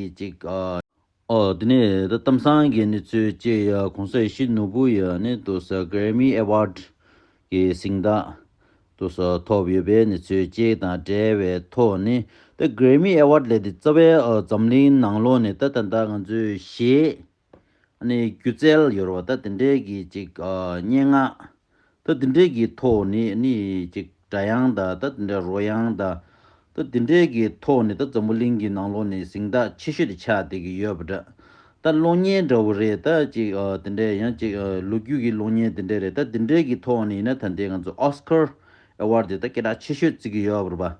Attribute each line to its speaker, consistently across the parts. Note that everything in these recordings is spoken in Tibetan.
Speaker 1: ཡིག་ཅིག། ཨོ། དེ་ནས་ད་གཏམ་བཟང་གི་ནི་ཚོད་ཅེས་ཡ་གོང་ས་གཞི་ནོར་བུ་ཡ་ནི་དུ་ས Grammy Award གི་གཟིངས་རྟགས་དུ་ས་ཐོབ་ཡོད་པའི་ནི་ཚོད་ཅིག་དང་འབྲེལ་བའི་ཐོག་ནི་ད Grammy Award ལས་དེ་རྩ་བའི་འཛམ་གླིང་ནང་ལོགས་ནས་ད་ད་ད་ང་ཚོས་གཞས་ནས་སྒྱུ་རྩལ་ཡོར་བ་ད་དེ་འདྲའི་གི་ཅིག་སྙན་ངག་ད་དེ་འདྲའི་གི་ཐོག་ནས་ནི་ཅིག་སྒྲ་དབྱངས་ད་ད་དེ་འདྲའི་རོ་དབྱངས་ད་ད་དེ་འདྲའི་གི་ཐོག་ནས་ད་འཛམ་བུ་གླིང་གི་ནང་ལོགས་ནས་གཟིངས་རྟགས་ཆེ་ཤོས་དེ་ཆགས་བསྡད་གི་ཡོད་པ་འདྲ་ད་གློག་བརྙན་འདྲ་བོ་རེད་ད་ཅིག་དེ་འདྲའི་ཡང་ཅིག་ལོ་རྒྱུས་གི་གློག་བརྙན་དེ་འདྲའི་རེད་ད་དེ་འདྲའི་གི་ཐོག་ནས་ཡིན་ན་ད་འདི་ང་ཚོ Oscar Award དེ་ད་སྐད་གྲགས་ཆེ་ཤོས་བརྩི་གི་ཡོད་པར་བ།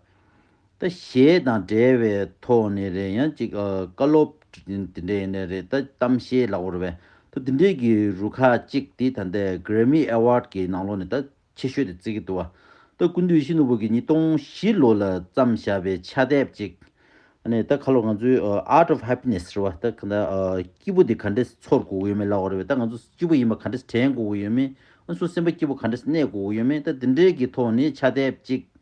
Speaker 1: ད་ཞེས་དང་འབྲེལ་བའི་ཐོག་ནས་རེད་ཡང་ཅིག་བཀའ་སློབ། དེ་འདྲས་ནས་རེད་ད་གཏམ་བཤད་ལ་བོར་བས་ད་དེ་འདྲས་ཀྱི་རུ་ཁག་ཅིག་དེ་ད་ལྟ Grammy Award ཀྱི་ནང་ལོག་ནས་ད་ཆེ་ཤོས་དེ་བརྩི་གི་འདུག་བ་ད་སྐུ་འདུས་ཤིན་ཏུ་བོད་ཀྱི་ཉིས་སྟོང་བཞི་ལོ་ལ་བརྩམས་བཞག་པའི་ཕྱག་དེབ་ཅིག་ནས་ད་ཁ་ལོ་ང་ཚོའི Art of Happiness རེད་བ་ད་ག་ད་སྐྱིད་པོ་དེ་ག་འདྲས་ཚོར་དགོས་ཀྱི་ཡོད་མེད་ལ་བོར་བས་ད་ང་ཚོ་སྐྱིད་པོ་ཡིན་པ་ག་འདྲས་དྲན་དགོས་ཀྱི་ཡོད་མེད་ང་ཚོ་སེམས་པ་སྐྱིད་པོ་ག་འདྲས་གནས་དགོས་ཀྱི་ཡོད་མེད་ད་དེ་འདྲས་ཀྱི་ཐོག་ནས་ཕྱག་དེབ་ཅིག་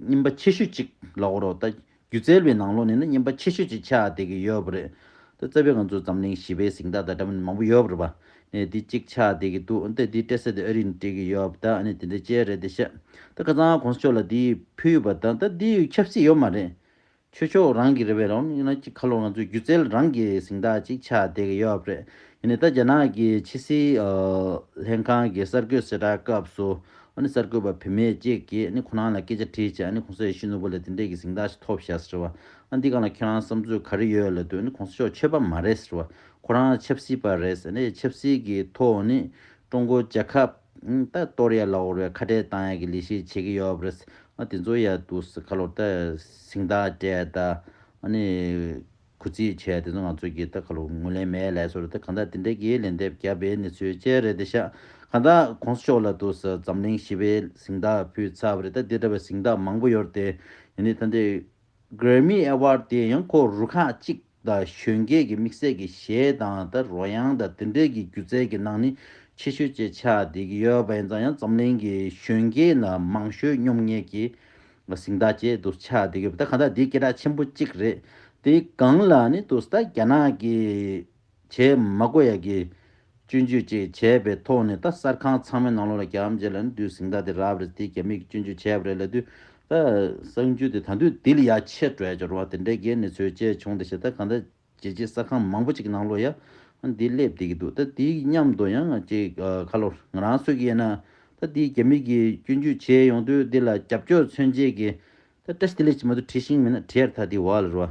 Speaker 1: སྙིམ་པ་ཆེ་ཤོས་གཅིག་ལ་འོ་རོགས་ལྟ། སྒྱུ་རྩལ་བའི་ནང་ལོགས་ནས་ན་སྙིམ་པ་ཆེ་ཤོས་གཅིག་ཆགས་བསྡད་ཀྱི་ཡོད་པ་རེད། ད་རྩ་བའི་ང་ཚོ་འཛམ་གླིང་བཞི་པའི་གཟིག་མདའ་དང་འདྲ་མིན་མང་པོ་ཡོད་པ་རེད་པ། ནས་འདི་གཅིག་ཆགས་བསྡད་ཀྱི་འདུག་ད་འདི་སྤྲད་སའི་དུས་ཨ་རིས་ནས་སྤྲད་ཀྱི་ཡོད་པ་དང་ནས་དེ་འདྲའི་དཔྱད་རེད་ད་བཤད། ད་ཁ་ཚང་གོང་ས་མཆོག་ལ་འདི་ཕུལ་བ་དང་ད་འདི་ཡོད་ཁྱབ་སྲིད་ཡོད་མ་རེད། ཆོས་ཕྱོགས་རང་གི་རེད་བས་རང་ལུགས་ཡིན་ན་ཅིག་ཁ་ལོ་ང་ཚོའི་སྒྱུ་རྩལ་རང་གི་གཟིངས་རྟགས་ཅིག་ཆགས་བསྡད་ཀྱི་ཡོད་རེད་ཡིན་ནའི་ད་རྒྱ་ནག་གི་ཕྱི་སྲིད་ལྷན་ཁང་གི་གསར་འགོད་གསལ་བསྒྲགས་སྐབས་སུ་ཨ་ནི་གསར་འགོད་པ་བུད་མེད་ཅིག་གིས་ཨ་ནི་ཁོ་རང་ལ་སྐད་ཆ་དྲིས་རྗེས་ཨ་ནི་གོང་ས་ཡེ་ཤུ་ནོར་བུ་ལ་དེ་འདྲས་ཀྱི་གཟིངས་རྟགས་ཤིག་ཐོབ་བཞག་ཟེར་བ་ཨ་འདི་གང་ལ་ཁྱེད་རང་བསམ་ཚུལ་ག་རེ་ཡོད་ལ་དུས་ཨ་ནི་གོང་ས་མཆོག་ཆོས་པ་མ་རེད་ཟེར་བ་ཁོ་རང་ཆབ་སྲིད་པ་རེད་ཟེར་ནས་ཆབ་སྲིད་ཀྱི་ཐོག་ཨ་ནི་ཀྲུང་གོ་རྒྱལ་ཁབ། ད་གཏོར་ཡ་ལ་བོར་བའི་ཁ་བྲལ་བཏང་ཡ་གི་ལས་ཤིག་བྱེད་གི་ཡོད་རེད། དེ་ཚོ་ཡ་འདུག་སེ་ཁ་ལོར་ད་ཟིང་ཐག་བྲད་ད་ནི་གུ་རྩིས་བྱས་དེ་ཚོ་ང་ཚོ་གི་ད་ཁ་ལོར་ངུ་ལེན་མེད་ལས་སོར་ད་གང་ད་དེ་འདྲ་གི་ལན་འདེབས་རྒྱབ་པའི་གནས་ཚུལ་བཅས་རེད་དེ་ཤག་གང་ད་གོང་ས་མཆོག་ལ་འདུག་སེ་འཛམ་གླིང་ཞི་བའི་ཟིང་ཐག་ཕུལ་ཚར་བ་རེད་ད་དེ་འདྲ་བའི་ཟིང་ཐག་མང་པོ་ཡོད་རེད་དེ། ཡིན་ནི་ད་འདི Grammy Award དེ་ཡང་ཁོ་རུ་ཁག་གཅིག་དང་གཞོན་སྐྱེས་ཀྱི་དམིགས་བསལ་གྱི་གཞས་གདངས་དང་རོལ་དབྱངས་དང་དེ་འབྲེལ་གྱི་སྒྱུ་རྩལ་གྱི་སྣང་ནི་ཆེ་ཤོས་བཅས་ཆགས་བསྡད་ཀྱི་ཡོད་པ་ཡིན་ཙང་ཡང་འཛམ་གླིང་གི་གཞོན་སྐྱེས་ལ་མང་ཤོས་སྙོམ་ངད་ཀྱི་གཟིངས་རྟགས་ཅན་དུ་ཆགས་བསྡད་ཀྱི་ཡོད་པ་དེ་གང་ལྟར་འདི་སྐད་གྲགས་ཆེན་པོ་གཅིག་རེད། དེའི་སྒང་ལ་ནི་དུ་ས་རྒྱ་ནག་གི་བྱེས་མ་ཀོ་ཡ་ཀི་སྤྱོད་འཇུག་བཅས་བྱས་པའི་ཐོག་ནས་ད་གསར་ཁང་ཚང་མའི་ནང་ལོགས་ལ་གྱམ་བྱས་ལ་ནི་དུས་ཟིང་ད་དེ་རབ་རེད་དེ་གྱམ་མིག་སྤྱོད་འཇུག་བྱས་པ་རེད་ལ་དུས་ད་གསང་འཇུག་དེ་ད་དུས་དེ་ལ་ཡ་ཆེ་བྲོད་ཅོར་བ་དེ་འདྲའི་འགལ་ནི་ཚོད་བཅས་བྱུང་ད་ཞེ་ད་གང་ད་བྱས་རྗེས་གསར་ཁང་མང་པོ་ཅིག་གི་ནང་ལོགས་ཡ་ང་འདི་སླེབས་བསྡད་ཀྱི་འདུག་ད་དེའི་མཉམ་དུ་ཡང་ང་ཅིག་ཁ་ལོ་ང་རང་གསོད་ཀྱི་ཡིན་ན་ད་དེའི་གྱམ་མིག་གིས་སྤྱོད་འཇུག་བྱས་ཡོང་དུས་དེ་ལ་རྒྱབ་སྐྱོར་མཚོན་བྱེད་ཀྱི་ད་བཀྲ་ཤིས་དེ་ལས་ཅི་མ་ཏུ་བྲིས་ཤིང་མེད་ན་བྲིས་ཡར་ད་དེ་བ་ལ་རུ་བ་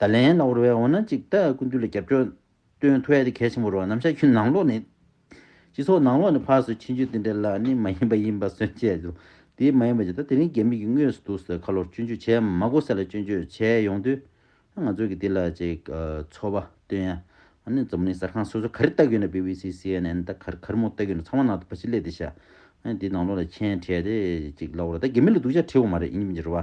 Speaker 1: ད་ལན་གནའ་བོར་བའི་འོ་ན་ཅིག་ལྟ་ཀུན་འདུས་ལ་རྒྱབ་སྐྱོར་སྟོན་ཐུ་ཨེ་ཏི་གལ་ཆེན་པོ་རོ་ནམ་ཤ་ཁྱུ་ནང་ལོག་ནི། སྤྱི་ཚོགས་ནང་ལོག་ནི་ཕག་སོད་ཕྱིན་ཆུད་དེ་འདྲ་ལ་ནི་མ་ཡིན་པ་ཡིན་པ་སོན་བྱས་ལོ་དེ་མ་ཡིན་པ་ཇི་ལྟ་དེ་རིང་རྒྱ་མི་གི་དངོས་སུ་འདུག་སའི་ཁ་ལོར་སྤྱོད་འཇུག་བྱས་མ་མགོ་སེ་ལ་སྤྱོད་འཇུག་བྱས་ཡོང་དུས། ང་ཚོ་གི་དེ་ལ་ཅིག་ཚོར་བ་སྟོན་ཡ། འོ་ནི་འཛམ་གླིང་གསར་ཁང་སོ་སོ་ག་རེ་ལྟ་གི་ཡོད་ན་བྷི་བྷི་སི་སི་ཨེན་ཨེན་ད་གར་གར་མོ་ལྟ་གི་ཡོད་ན་ཚང་མ་ནང་དུ་ཕ་ཕྱི་གླེད་དེ་བཞག་འོ་ནི་དེ་ནང་ལོག་ལ་མཁྱེན་དྲས་དེ་ཅིག་ལ་འོ་ར་ད་རྒྱ་མི་ལ་སྡུག་ཅག་ཁྲེལ་བོ་མ་རེད་ཡིན་མི་འགྱུར་བ